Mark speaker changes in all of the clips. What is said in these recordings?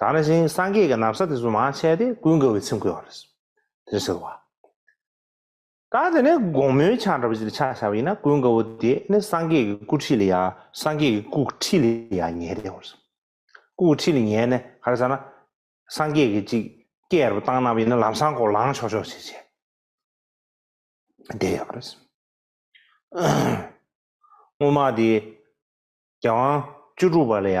Speaker 1: དང་རེ་ཞིང་སངས་རྒྱས་ཀྱི་ནམ་ས་དེ་ཚོ་མ་ཆད་དེ་ཀུན་དགའ་བའི་ཚིམས་བསྐོལ་བ་རེད། དེར་ཟེར་བ། ད་དེ་ནས་དགོང་མོའི་ཆ་འདྲ་བ་ཞིག་ལ་ཕྱག་བྱ་བ་ཡིན་ན་ཀུན་དགའ་བོ་དེ་ནི་སངས་རྒྱས་ཀྱི་སྐུ་ཁྲི་ལ་ཡ་སངས་རྒྱས་ཀྱི་སྐུ་ཁྲི་ལ་ཡ་ཉལ་བསྡད་བར་སོང། སྐུ་ཁྲི་ལ་ཉལ་ནས་ག་རེ་བྱ་ན། སངས་རྒྱས་ཀྱི་ཅིག་སྐད་རུ་བཏང་ན་བ་ཡིན་ན་ལམ་སང་སྐོར་ལངས་ཆོག་ཆོག་བྱེད་བྱེད། བསྡད་ཡོད་པ་རེད། སྔོན་མ་དེ་རྒྱལ་དབང་བཅུ་དྲུག་པ་ལ་ཡ་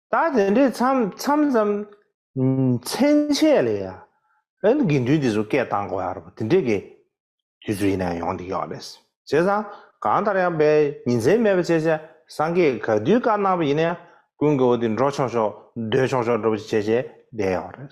Speaker 1: ད་དེ་འདྲའི་མཚམས་མཚམས་མཚན་ཆད་ལས་ཡ་ཨན་དགེ་འདུན་དེ་ཚོ་སྐད་བཏང་དགོས་ཡ་རེད་པ་དེ་འདྲའི་དགེ་དུས་ཚོད་ཡིན་ན་ཡང་ཡོང་འདི་ཡོད་རེད་བྱས་ཙང་གང་ལྟར་ཡང་བའི་ཉིན་མཚན་མེད་པ་བྱས་བྱས་སང་གེ་ག་དུས་བཀའ་གནང་བ་ཡིན་ན་ཡང་ཀུན་དགའ་བོ་དེ་འགྲོ་ཆོག་ཆོག་སྡོད་ཆོག་ཆོག་འགྲོ་བྱས་བྱས་བསྡད་ཡོད་རེད།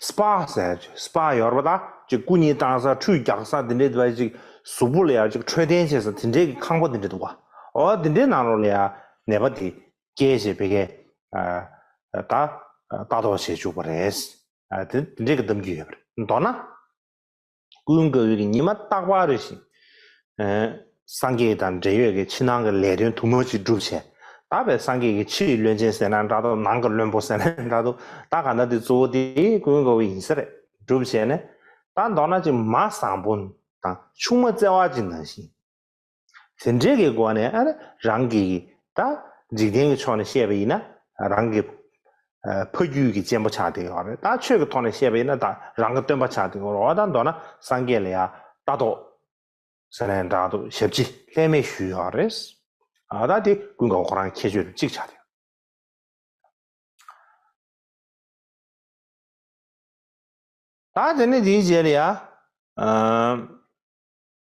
Speaker 1: སྤ་ཟེར། སྤ་ཡོར་བ་དག་ཅིག་སྐུ་གཉིས་བཏང་ས་ཁྲུས་རྒྱག་ས་དེ་འདྲའི་དེ་བ་ཅིག་གཟུགས་པོ་ལ་ཡར་ཅིག་འཕྲོད་བསྟེན་བྱེད་ས་དེ་འདྲའི་གི་ཁང་པ་དེ་འདྲའི་འདུག་ག་འོ་དེ་འདྲའི་ནང་རོ་ལ་ཡར་ནད་པ་དེ་སྐྱེས་ཞེས་བེ་གས་ད་ལྟ་ལྟ་རྟོག་བྱེད་བཅུག་པ་རེད། དེ་འདྲའི་གི་གདམ་རྒྱུ་ཡོད་པ་རེད་མདོར་ན། ཀུན་དགའ་བོའི་ཉི་མ་རྟག་པར་རེ་ཞིག། སངས་རྒྱས་དང་འབྲེལ་ཡོད་ཀྱི་ཕྱི་ནང་གི་ལས་དོན་དུ་མ་ཅིག་བསྒྲུབ་བྱས། བདག་པས་སངས་རྒྱས་ཀྱི་ཕྱི་ཡི་བློན་ཆེན་ཟེར་ན་འདྲ་འདུག་ནང་གི་བློན་པོ་ཟེར་ན་འདྲ་འདུག་ད་ག་འདྲ་དེ་གཙོ་བོ་དེ་ཀུན་དགའ་བོ་ཡིན་ས་རེད་སྒྲུབ་བྱས་ནས། ད་མདོར་ན་ཅིག་མ་བཟང་པོ་དང་ཆུང་མ་བརྩེ་བ་ཅིག་ནང་བཞིན། དེ་འདྲའི་གི་སྒོ་ནས་རང་གི་ད་འཇིག་རྟེན་གི་ཕྱོགས་ནས་བཤད་པ་ཡིན་ན་རང་གི་ཕ་རྒྱུད་གི་གཅེན་པོ་ཆགས་འདི་ཡོད་རེད་ད་ཆོས་གི་ཐོག་ནས་བཤད་པ་ཡིན་ན་ད་རང་གི་སྟོན་པ་ཆགས་འདི་ཡོད་རེད་འོ་ད་མདོར་ན་སངས་རྒྱས་ལ་ཡང་ལྟ་རྟོག་ཟེར་ནའི་འདྲ་འདུག་ཞབས་ཕྱི་ལྷད་མེད་ཞུས་ཡོད་རེད། ཨ་ད་དེ་ཀུན་དགའ་བོ་ཁོ་རང་ཁྱད་ཆོས་གཅིག་ཆགས་འདི་ཡོད། ད་དེ་ནས་དེའི་རྗེས་ལ་ཡང།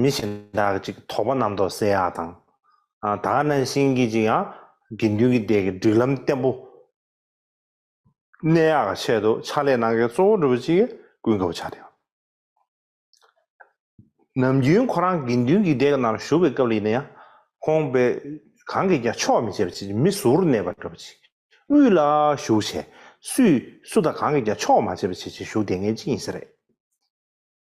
Speaker 1: མི་གཞན་དག་ཅིག་དོགས་པ་རྣམ་རྟོག་བསལ་ཡག་དང། དག་སྣང་ཤེས་ཀྱིས་ཅིག་ཡང་དགེ་འདུན་གྱི་སྡེ་གི་སྒྲིག་ལམ་བརྟན་པོ་གནས་ཡག་གི་ཆེད་དུ་ཕྱག་ལས་གནང་མཁན་གཙོ་བོ་གྲུབ་པ་ཅིག་གིས་སྐུལ་མཁས་པོ་བྱ་དགོས། ནམ་རྒྱུན་ཁོ་རང་དགེ་འདུན་གྱི་སྡེ་གི་ནང་བཞུགས་པའི་སྐབས་ལ་ཡིན་ན་ཡང་ཁོང་པས་གང་གིས་ཀྱང་ཆོག་མི་བྱེད་པ་ཅིག་མི་ཟུར་གནས་པ་གྲུབ་པ་ཅིག་དབུས་ལ་བཞུགས་བྱས་སུས་སུ་དང་གང་གིས་ཀྱང་ཆོག་མ་བྱེད་པ་ཅིག་ཅིག་བཞུགས་བསྡད་མཁན་ཅིག་ཡིན་ས་རེད།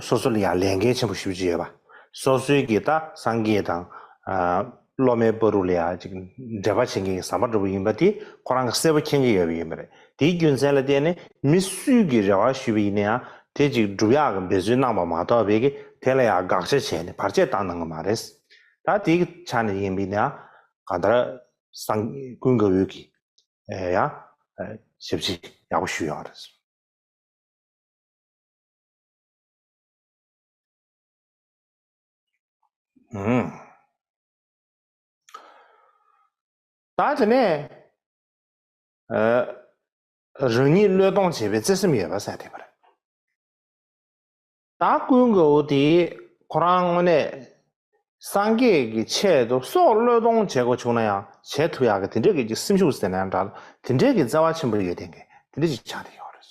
Speaker 1: སོ་སོ་ལ་ཡང་ལས་འགན་ཆེན་པོ་ཞུ་བཞིན་ཡོད་པ། སོ་སོའི་གིས་ད་སངས་རྒྱས་དང། སློབ་མའི་པོ་རུ་ལ་ཡང་ཅིག་འབྲེལ་པ་བྱེད་མཁན་གྱི་ཟམ་པ་འགྲོ་གི་ཡིན་པ་དེ་ཁོ་རང་གི་གསལ་པོ་མཁྱེན་གྱི་ཡོད་པ་ཡིན་པ་རེད། དེའི་རྒྱུ་མཚན་ལ་བརྟེན་ནས་མི་སུས་གིས་རེ་བ་ཞུས་པ་ཡིན་ན་ཡང་དེ་ཅིག་སྒྲུབ་ཡག་གི་འབད་བརྩོན་གནང་བ་མ་གཏོགས་བས་ཀྱི་དེ་ལ་ཡང་དགག་བྱ་བྱས་ནས་བར་ཆད་བཏང་གནང་གི་མ་རེད། ད་དེའི་ཆ་ནས་ཡིན་པས་ན་གང་ལྟར་སངས་ཀུན་དགའ་བོས་ཀྱིས་ཡང་ཞབས་ཕྱི་ཡག་པོ་ཞུས་ཡོད་རེད། ད་དེ་ནས་རང་ཉིད་བློས་གཏོང་བྱེད་པའི་བརྩེ་སེམས་ཡོད་པ་གསལ་ཐེབས་པ་རེད། ད་སྐུའི་མགོ་བོ་དེས་ཁོ་རང་དངོས་གནས་སངས་རྒྱས་ཀྱི་ཆེད་དུ་སྲོག་བློས་གཏོང་བྱེད་དགོས་བྱུང་ན་ཡང་བྱེད་ཐུབ་ཡག་གི་དེ་འདྲའི་གི་སེམས་ཤུགས་ཟེར་ན་ཡང་འདྲ་ལ་དེ་འདྲའི་གི་བརྩེ་བ་ཆེན་པོ་ཡོད་ལྡན་གི་དེ་འདྲའི་གི་ཆགས་ཐེབས་ཡོད་རེད།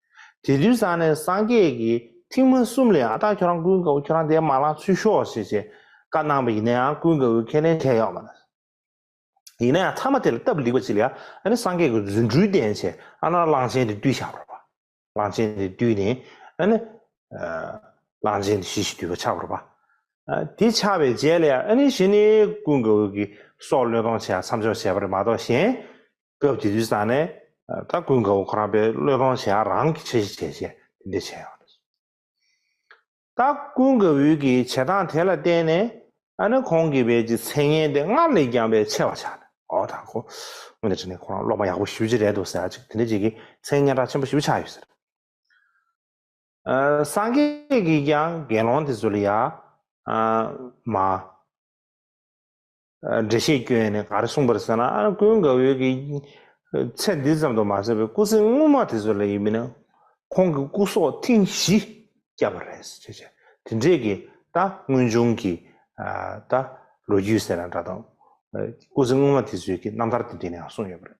Speaker 1: དེ་དུས་སང་ནས་སངས་རྒྱས་ཀྱི་ཐིག་མ་གསུམ་ལས་ཨ་སྟག་ཁྱོད་རང་ཀུན་དགའ་བོ་ཁྱོད་རང་དེའི་མ་ལག་ཚུད་ཤོག་ཞེས་ཞེས་བཀའ་གནང་བས་ཡིན་ན་ཡང་ཀུན་དགའ་བོས་ཁས་ལེན་བྱས་ཡོད་མ་རེད། ཡིན་ན་ཡང་ཐ་མ་དེ་ལ་སྟབས་བསྒྲིགས་པ་ཅིག་ལ་ཡང་ཨ་ནི་སངས་རྒྱས་ཀྱི་རྫུ་འཕྲུལ་བསྟན་ཆེད་ཨ་ན་ར་གླང་ཆེན་དེ་བཏུལ་ཆགས་པར་བ། གླང་ཆེན་དེ་བཏུལ་ནས་ཨ་ནི། གླང་ཆེན་དེ་ཞི་ཞིག་བཏུལ་བ་ཆགས་པར་བ། དེ་ཆགས་པའི་རྗེས་ལ་ཡང་ཨ་ནི་ཞི་ནི་ཀུན་དགའ་བོ་གིས་སྲོག་བློས་གཏོང་བྱས་ཡང་མཚམས་འཇོག་བྱས་པ་རེད་མ་གཏོགས་གཞན། སྐབས་དེ་དུས་ས་གནས་དང་ཀུན་དགའ་བོ་ཁོ་རང་པའི་བློས་གཏོང་བྱས་ཡང་རང་གིས་ཆེ་ཞེ་བྱས་བྱས་དེ་འདྲས་བྱས་ཡོང་རེད་སོ། ད་ཀུན་དགའ་བོའི་གི་བྱེད་སྟངས་དེ་ལ་བརྟེན་ནས་ཨ་ནི་ཁོང་གི་བལ་གྱི་མཚན་སྙན་དེ་སྔར་ལས་ཀྱང་བས་ཆེ་བ་ཆགས་ནས་ཨོ་ད་ཁོ་སྔོན་དུ་བྱས་ནས་ཁོ་རང་སློབ་མ་ཡག་པོ་ཞུ་རྒྱུ་རེད་འདུག་ཟེར་ཡག་ཅིག་དེ་འདྲས་བྱས་གི་མཚན་སྙན་གྲགས་ཆེན་པོ་ཞིག་བས་ཆགས་ཡོད་ཟེར། སངས་རྒྱས་ཀྱིས་ཀྱང་དགེ་སློང་དེ་ཚོ་ལ་ཡ། མ། འགྲེལ་བཤད་སྐྱོན་ཡོད་ནས་ག་རེ་གསུངས་པར་ཟེར་ན་ཨ་ར་ཀུན་དགའ་བོད་ཀྱི་ཚད་འདི་ཙམ་དུ་མ་ཟད་པའི་སྐུ་ཚེ་སྔོན་མ་དེ་ཚོ་ལ་ཡིན་མིན་ཁོང་གི་སྐུ་སྲོག་ཐེངས་བཞི་བསྐྱབས་པ་རེད་ཟེར་བྱས། དེ་འདྲས་ཀྱི་ད་དངོས་བྱུང་གི་ད་ལོ་རྒྱུས་ཟེར་ན་འདྲ་དང། སྐུ་ཚེ་སྔོན་མ་དེ་ཚོའི་གི་རྣམ་ཐར་དེ་འདྲས་ནའང་གསུངས་ཡོད་པ་རེད།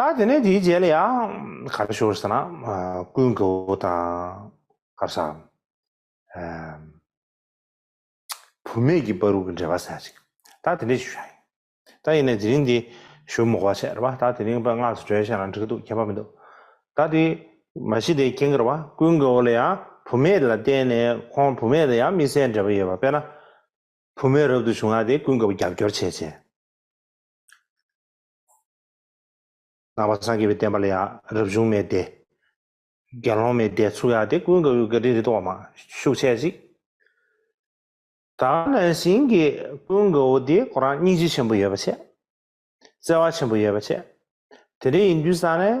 Speaker 1: ད་དེ་ནས་དེའི་རྗེས་ལ་ཡང་ག་རེ་ཤོར་ཟེར་ན་ཀུན་དགའ་བོ་དང་ཨ་བསྭ་བུ་མེད་ཀྱི་པ་རུ་གི་འབྲེལ་བ་ཟེར་ཅིག་ད་དེ་འདྲས་ཞུ་བཞག་ཡིན། ད་ཡིན་ནས་དེ་རིང་འདི་ཞུ་མུག་བ་བྱས་རེད་པ་ད་དེ་རིང་པ་སྔགས་སུ་གྲོལ་བྱས་ན་འགྲིག་འདུག་ཁྱད་པ་མི་འདུག་ད་དེ་མ་གཞི་དེ་ཁྱེད་གི་རེད་པ་ཀུན་དགའ་བོ་ལ་ཡང་བུ་མེད་ལ་བརྟེན་ནས་ཁོང་བུ་མེད་དང་ཡང་མི་སེར་འབྲེལ་བ་ཡོད་པ་དཔེར་ན་བུ་མོས་རབ་ཏུ་བྱུང་བ་དེ་ཀུན་དགའ་བོ་རྒྱབ་སྐྱོར་བྱེད་ཅིང། ནང་པ་སངས་རྒྱས་པའི་བསྟན་པ་ལ་ཡང་རབ་བྱུང་མའི་སྡེ། དགེ་སློང་མའི་སྡེ་ཚུགས་ཡ་དེ་ཀུན་དགའ་བོའི་བཀའ་དྲིན་རི་དྭགས་མ་ཤུགས་ཆད་ཅིག། ད་ལན་བྱིན་གྱིས་ཀུན་དགའ་བོ་དེ་ཁོ་རང་སྙིང་རྗེ་ཆེན་པོ་ཡོད་པ་ཆེ། བརྩེ་བ་ཆེན་པོ་ཡོད་པ་ཆེ། དེ་འདྲ་ཡིན་དུས་ས་ནས།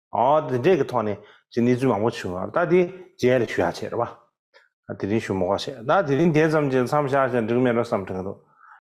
Speaker 1: འདི་འདྲའི་གི་ཐོག་ནས་ཀྱི་གནས་ཚུལ་མང་པོ་བྱུང་བ་ད་དེ་རྗེས་རེ་ཞུ་ཡག་ཆེ་རེད་བ། དེ་རིང་ཞུ་མོག་བ་བྱས་ད་དེ་རིང་དེ་ཙམ་གྱི་མཚམས་བཞག་ཅིང་འགྲིག་མེད་རེད་བསམ་དྲན་གི་འདུག